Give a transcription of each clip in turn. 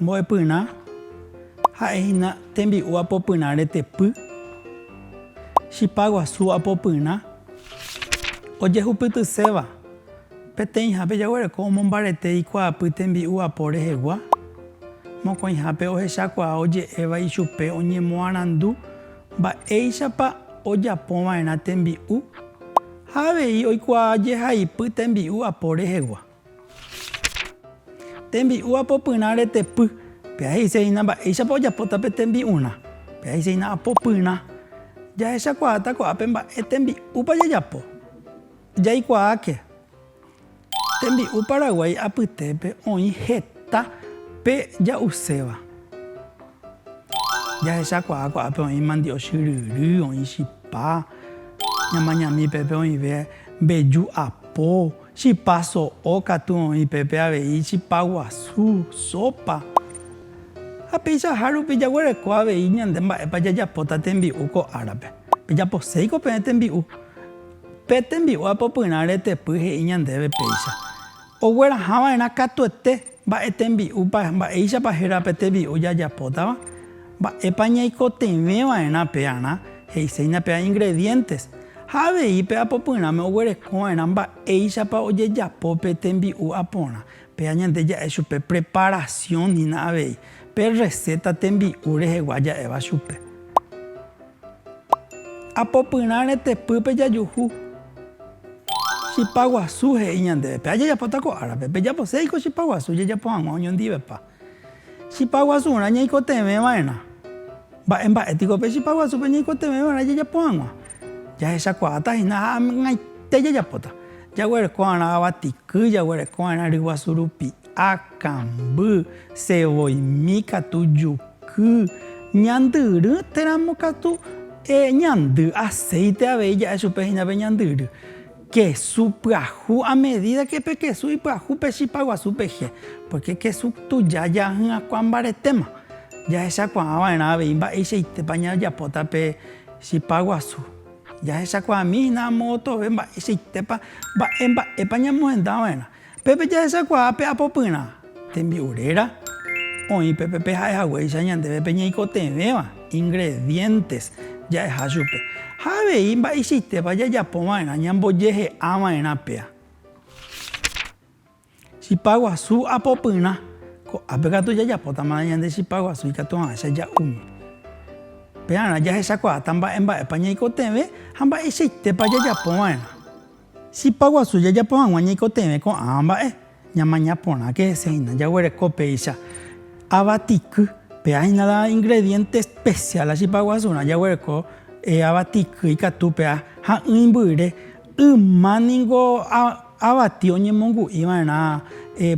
Mbo'epyrã ha'e hína tembi'u apopyrã retepy, chipa guasu apopyrã ojehupytyséva, peteĩhápe jaguereko omombarete ikuaapy tembi'u apo rehegua, mokõihápe ohechakuaa oje'éva ichupe oñemoarandu mba'éichapa ojapova'erã tembi'u. Ha avei oikuaa jehaipy tembi'u apo rehegua. Tembi'u apopyrã retepy, pea he'ise hína mba'éichapa ojapóta pe tembi'urã, pea he'ise hína apopyrã. Jahechakuaáta ko'ápe mba'e tembi'úpa jajapo. Jaikuaáke. Tembi'u Paraguái apytépe oĩ heta pe ja'uséva. Jahechakuaa ko'ápe oĩ mandioxy ryry, oĩ chipa, ñamañami pépe oĩve mbeju apo, chipa so'o katu oĩ pépe avei chipa guasu, sopa. Ha peichaha rupi jaguereko avei ñande mba'épa jajapóta tembi'u ko árape. Pejaposéiko peẽ tembi'u. Pe tembi'ua popyrã retepy he'i ñandéve péicha, ogueraha va'erã katuete mba'e tembi'úpa, mba'éichapa héra pe tembi'u jajapótava, mba'épa ñaikotevẽ va'erã pe arã, he'iséina pe ingredientes, ha avei pe apopyrãme oguereko va'erã mba'éichapa ojejapo pe tembi'u aporã, péa ñande ja'e chupe preparación hína avei, pe receta tembi'u rehegua ja'éva chupe. Apopyrã retepýpe jajuhu. Chipa guasu he'i ñandéve, péva jajapóta ko árape, pejapose ko chipa guasu jajapo hag̃ua oñondivepa. Chipa guasurã ñaikotevẽ va'erã. Mba'e mba'e piko pe chipa guasúpe ñaikotevẽ va'erã jajapo hag̃ua? Jahechakuaáta hína ha amgaite jajapóta. Jaguereko va'erã avati ky, jaguereko va'erã ry guasu rupi. Akãmby, sevoimi katu juky, ñandyry téramo katu ñandy aséite avei ja'e chupe hína pe ñandyry. Kesu pyahu a medida ke pe kesu ipyahu pe chipa guasu peje, pórke kesu tuja jahy'akua mbaretéma. Jahechakuaa va'erã avei mba'eichaitépa ñajapóta pe chipa guasu. Jahechakuaami hína amo otove mba'eichaitépa, mba'e mba'épa ñamohenda va'erã. Pépe jahechakuaa pe apopyrã tembi'u réra oĩ pépe pe ha'e haguéicha ñandéve pe ñeikotevẽva, ingredientes, ja'eha chupe. Ha avei mba'eichaitépa jajapo va'erã ñambojehe'a va'erã péa. Chipa guasu apopyrã, ko'ápe katu jajapótamana ñande chipa guasu ikatuavãicha ja'úme. Pearã jahechakuaáta mba'e mba'épa ñaikotevẽ ha mba'eichaitépa jajapo va'erã. Chipa guasu jajapo hag̃ua ñaikotevẽ ko'ãva mba'e, ñamaña porãke hese hína jaguereko péicha ava tiky. Péa hína la ingrediente especial la chipa guasurã jaguereko ava tiky ikatu péa ha'ỹi mbyre. Yma ningo avati oñemongu'i va'erã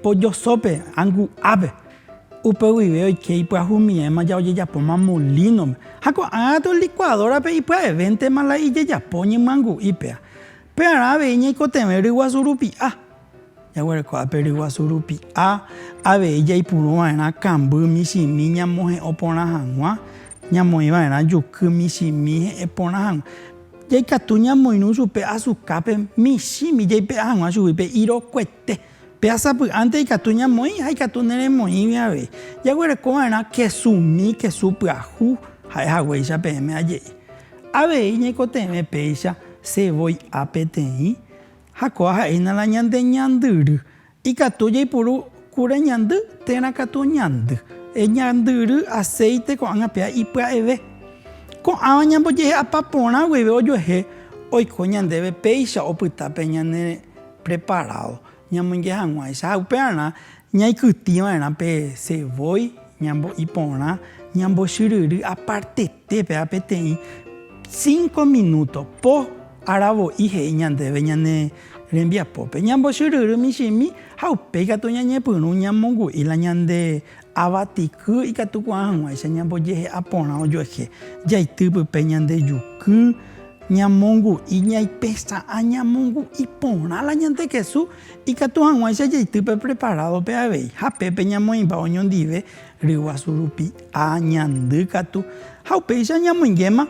pollo sópe, angu'ápe. Upe guive oike ipyahumiẽma ja ojejapóma molino-pe. Ha ko'ã katu licuadora-pe ipya'evéntema la ijejapo oñemyangu'i péa. Pearã avei ñaikotevẽ ryguasu rupi'a. Jaguerekoha pe ryguasu rupi'a avei jaipuru va'erã kamby michĩmi ñamohe'õ porã hag̃ua, ñamoĩ va'erã juky michĩmi he'ẽ porã hag̃ua. Jaikatu ñamoirũ chupe azukápe michĩmi jaipe'a hag̃ua chugui pe irokuete. Pehasapy'ánte ikatu ñamoĩ ha ikatu neremoĩgui avei. Jaguerekova'erã kesu umi, kesu pyahu, ha'e haguéicha peẽme aje'i. Avei ñaikotevẽ péicha se voi a peteĩ, ha kóva ha'éina la ñande ñandyry. Ikatu jaipuru kure ñandy térã katu ñandy. Eñandyry aséite ko'ág̃a péa ipya'eve. Ko'ãva ñambojehe'apa porã guive ojuehe oiko ñandéve péicha opyta pe ñane. preparádo ñamoinge hag̃uáicha ha upearã ñaikytĩ va'erã pe sevói ñambo'i porã ñambochyryry apartetépe ha peteĩ cinco minúto po aravo'i he'i ñandéve ñane rembiapópe ñambochyryry michĩmi ha upéi katu ñañepyrũ ñamongu'i la ñande avatiky ikatukuaa hag̃uáicha ñambojehe'a porã ojoehe jaity pype ñande juky, Ñamongu'i ñaipesa'ã ñamongu'i porã la ñande kesu ikatu hag̃uáicha jaity pe preparádope avei ha pépe ñamoĩmba oñondive ryguasu rupi ha ñandy katu ha upéicha ñamoingéma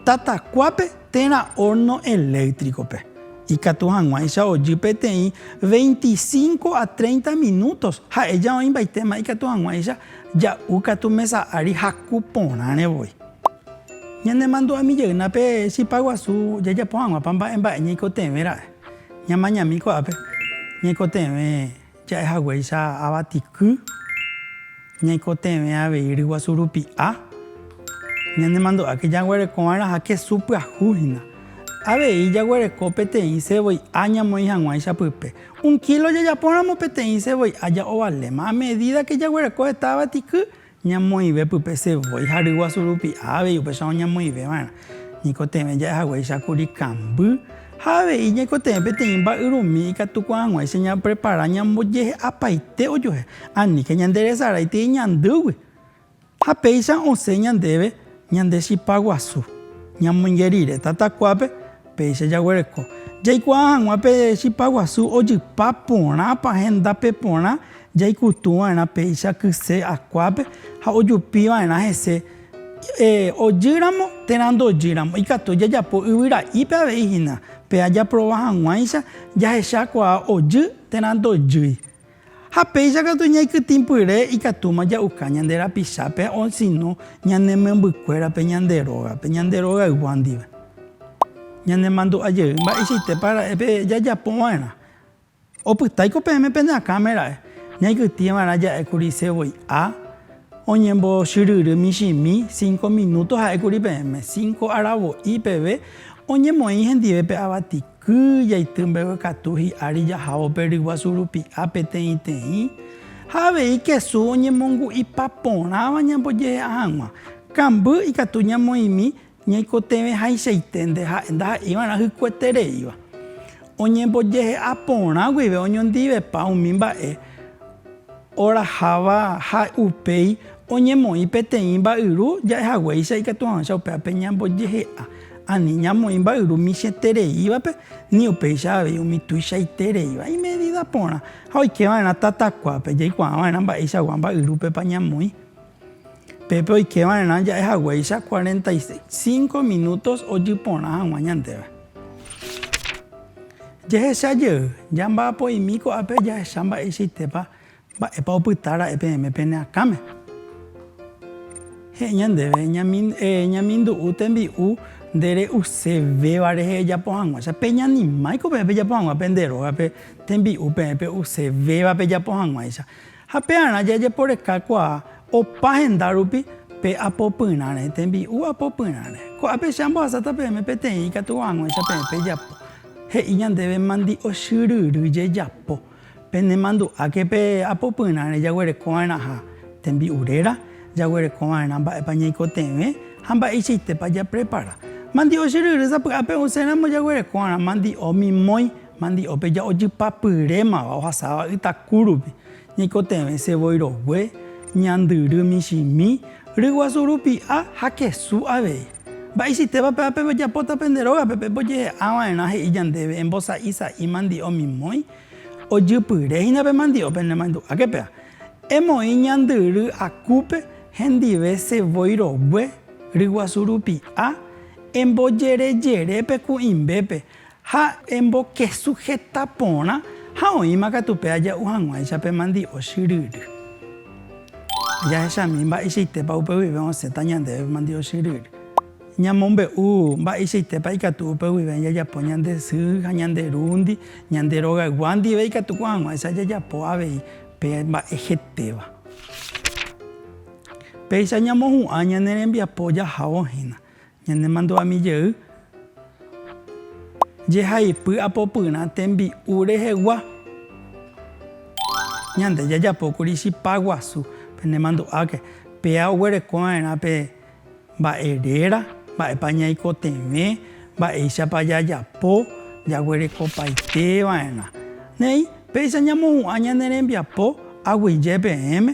tatakuápe térã hórno eléktrikope. Ikatu hag̃uáicha ojy peteĩ veinticinco a treinta minútos ha'eja oĩmbaitéma ikatu hag̃uáicha ja'u katu mesa ári haku porãre voi. Ñanemandu'ami jeyna pe chipa guasu jajapo hag̃uápa mba'e mba'e ñaikotevẽ ra'e. Ñamañami ko'ápe ñaikotevẽ ja'e haguéicha avatiky, ñaikotevẽ avei ryguasu rupi'a, ñanemandu'áke jaguereko va'erã ha kesu pyahu hína. Avei jaguereko peteĩ sevoi'a ñamoĩ hag̃ua ichapype. Un kílo jajapóramo peteĩ sevoi'a ja'ovaléma. A medídake jaguereko heta avatiky, Ñamoĩve pype se voi ha ryguasu rupi avei upéicharõ oñemoĩveva'erã. Ñaikotevẽ ja'e haguéicha kuri kamby ha avei ñaikotevẽ peteĩ mba'yrumi ikatukuaa hag̃uáicha ñaprepara ñambojehe'apaite ojuehe. Aníke ñanderesaráitei ñandýgui ha péicha osẽ ñandéve ñande chipa guasu. Ñamoinge rire tatakuápe. Péicha jaguereko jaikuaa hag̃ua pe chipa guasu ojypa porãpa hendápe porã jaikutu va'erã péicha kyse akuápe ha ojupi va'erã hese. Ojýramo térã ndojýramo, ikatu jajapo yvyra'ípe avei hína. Péa japrova hag̃uáicha jahechakuaa ojy térã ndojýi. Ha péicha katu ñaikytĩpyre ikatúma ja'uka ñande rapichápe osino ñane membykuérape ñande rógape, ñande rogaygua ndive. Ñanemandu'a jey mba'eichaitépa ra'e pe jajapo va'erã. Opytái ko peẽme pene akãme ra'e. Ñaikytĩ va'erã ja'e kuri sevoi'a oñembochyryry michĩmi, cinco minúto ha'e kuri peẽme, cinco aravo'i peve oñemoĩ hendive pe avati. Ky jaity mbegue katu hi'ári jahávo pe ryguasu rupi'a peteĩteĩ ha avei kesu oñemongu'ipa porãva ñambojehe'a hag̃ua. Kamby ikatu ñamoĩmi ñaikotevẽhaichaite nde ha'e ndaha'iva'erã hykuetereíva. Oñembojehe'a porã guive oñondivepa umi mba'e. Oraháva ha upéi oñemoĩ peteĩ mba'yru ja'ehaguéicha ikatuavãicha upévape ñambojehe'a. Ani ñamoĩ mba'yru michĩetereívape ni upéicha avei umi tuichaitereíva imedida porã. Ha oikeva'erã tatakuápe, jaikuaava'erã mba'eichagua mba'yrúpepa ñamoĩ. Pépe oike va'erã ja'e haguéicha cuarenta y cinco minutos ojy porã hag̃ua ñandéve. Jehecha jey, jamba'apo'imi ko'ápe jahecha mba'eichaitépa mba'épa opyta ra'e peẽme pene akãme. He'i ñandéve, Ñamindu'u tembi'u nde re'use véva rehe ejapo hag̃uáicha. Peñanimái ko peẽ pejapo hag̃ua pende rógape tembi'u peẽ pe'use véva pejapo hag̃uáicha. Ha pearã jajeporeka kuaa opa henda rupi pe apopyrãre, tembi'u apopyrãre. Ko'ápe che ambohasáta peẽme peteĩ ikatu haguãicha peẽ pejapo. He'i ñandéve mandi'ochyryry jejapo. Penemandu'áke pe apopyrãre jaguereko va'erãha tembi'u réra, jaguereko va'erã mba'épa ñaikotevẽ ha mba'eichaitépa japrepara. Mandi'ochyryry sapy'a pe'uséramo jaguereko va'erã mandi'o mimói Mandi'ópe ja'ojypa pyrémava ohasáva ytaku rupi, ñaikotevẽ se voi rogue, ñandyry michĩmi, ryguasu rupi'a ha kesu avei. Mba'eichítepa péva pejapóta pende rógape pembojehe'a va'erã he'i ñandéve embosa'i sa'i mandi'o mimói? Ojypyre hína pe mandi'o penemandu'áke péva, Emoĩ ñandyry akúpe hendive se voi rogue, ryguasu rupi'a, embojerejere pe kuĩmbépe Ha embokesujeta porã ha oĩma katu pe aja'u hag̃uáicha pe mandi'o chyryry. Jahechami mba'eichaitépa upe guive osẽta ñandéve pe mandi'o chyryry. Ñamombe'u mba'eichaitépa ikatu upe guive jajapo ñande sy ha ñande rúndi, ñande rogaygua ndive ikatu ko hag̃uáicha jajapo avei pe mba'e hetéva. Péicha ñamohu'ã ñane rembiapo jahávo hína. Ñanemandu'ami jey jehaipy apopyrã tembi'u rehegua. Ñande jajapókuri chipa guasu, penemandu'áke, péa oguerekova'erã pe mba'e réra, mba'épa ñaikotevẽ, mba'éichapa jajapo, jaguerekopaiteva'erã. Néi, péicha ñamohu'ã ñane rembiapo, aguyje peẽme.